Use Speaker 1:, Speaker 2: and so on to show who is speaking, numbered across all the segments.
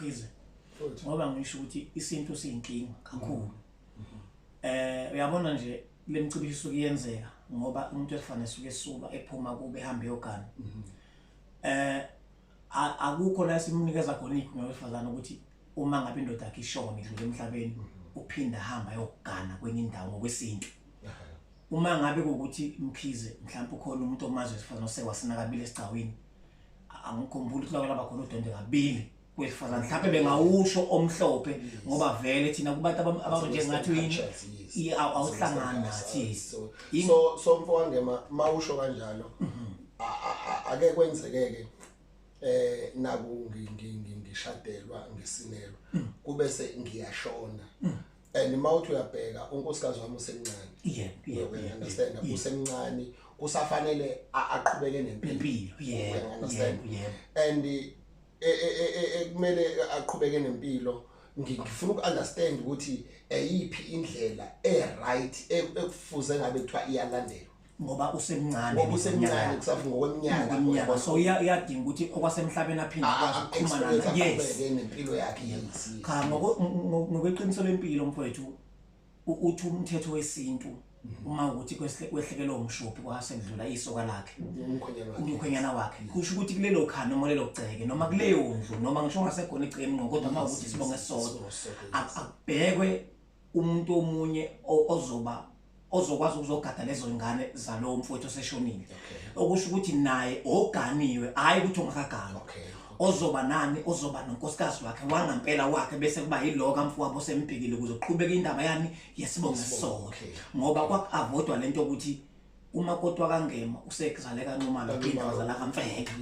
Speaker 1: Mkhize. Ngoba ngisho ukuthi isintu siyinkinga kakhulu. Mm-hmm. Eh uyabona nje lemcibisho kuyenzeka ngoba umuntu efanele suke esuka ephuma kube ehambe yogana. Mm-hmm. Eh akukho la simunikeza khona ikhona wesifazana ukuthi uma ngabe indoda yakhe ishone idlule emhlabeni mm-hmm. uphinda hamba yogana kwenye indawo ngokwesintu. Uma ngabe ukuthi mkhize mhlawumbe ukhona umuntu omazi wesifazana osewasinakabile esigcawini angikhumbuli ukuthi lawela bakhona udende kabili kwesifazane mhlawumbe bengawusho omhlophe ngoba vele thina kubantu abanje ngathi yini awuhlangani nathi so so
Speaker 2: mfowande mawusho kanjalo mhm. ake kwenzekeke eh naku ngishadelwa ngesinelo mm. kube se ngiyashona mm. and mawuthi uyabheka unkosikazi wami usemncane yeah yeah we
Speaker 1: understand yeah, yeah.
Speaker 2: usemncane kusafanele aqhubeke nempilo yeah
Speaker 1: we
Speaker 2: understand yeah, yeah. and eh, eh, eh, ekumele aqhubeke nempilo ngifuna ukunderstand ukuthi eyiphi indlela e right e, ekufuze ngabe kuthiwa iyalandelwa ngoba usemncane
Speaker 1: ngoba usemncane kusafu
Speaker 2: ngokweminyaka ngokweminyaka so iyadinga
Speaker 1: ukuthi okwasemhlabeni aphinde ah, akwazi ah, ukuxhumana yes nempilo
Speaker 2: yakhe yes cha
Speaker 1: ngokweqiniso lempilo mfowethu uthi umthetho wesintu mhm. uma ukuthi kwehlekelwe umshophi kwasendlula isoka lakhe umkhwenyana wakhe kusho ukuthi kulelo khana noma lelo gceke noma kuleyo ndlu noma ngisho ngasekhona igceke emnqo kodwa uma ukuthi sibonge sodwa akubhekwe umuntu omunye ozoba ozokwazi ukuzogada lezo ngane zalowo mfowethu oseshonile okusho ukuthi naye oganiwe hayi ukuthi ongakaganwa ozoba nani ozoba nonkosikazi wakhe wangampela wakhe bese kuba yilo kamfowabo osembhekile ukuze uqhubeke indaba yani yesibongo sisonke ngoba kwakuavodwa lento ukuthi uma kodwa kangema usekuzale kancumana indaba zala kamfeka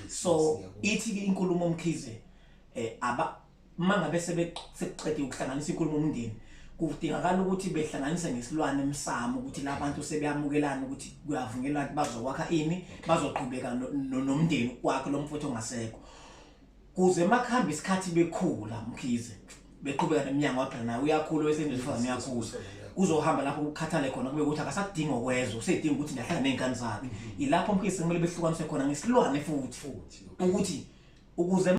Speaker 1: so ithi inkulumo omkhize eh aba Uma ngabe sekuqedwe ukuhlanganisa inkulumo umndeni kudingakala ukuthi behlanganise ngesilwane emsamo ukuthi labantu sebeyamukelana ukuthi kuyavunyelwa ukuthi bazokwakha ini bazoqhubeka nomndeni kwakhe lo mfowethu ongasekho kuze makuhamba isikhathi bekhula mkhize beqhubeka nemnyango waphela naye uyakhula wesenjefazane uyakhula uzohamba lapho ukukhathale khona kube ukuthi akasadingi okwezwa usedinga ukuthi ndahlala ney'ngane zakhe mhm. yilapho mkhize kumele behlukaniswe khona ngesilwane futhi futhi ukuthi ukuze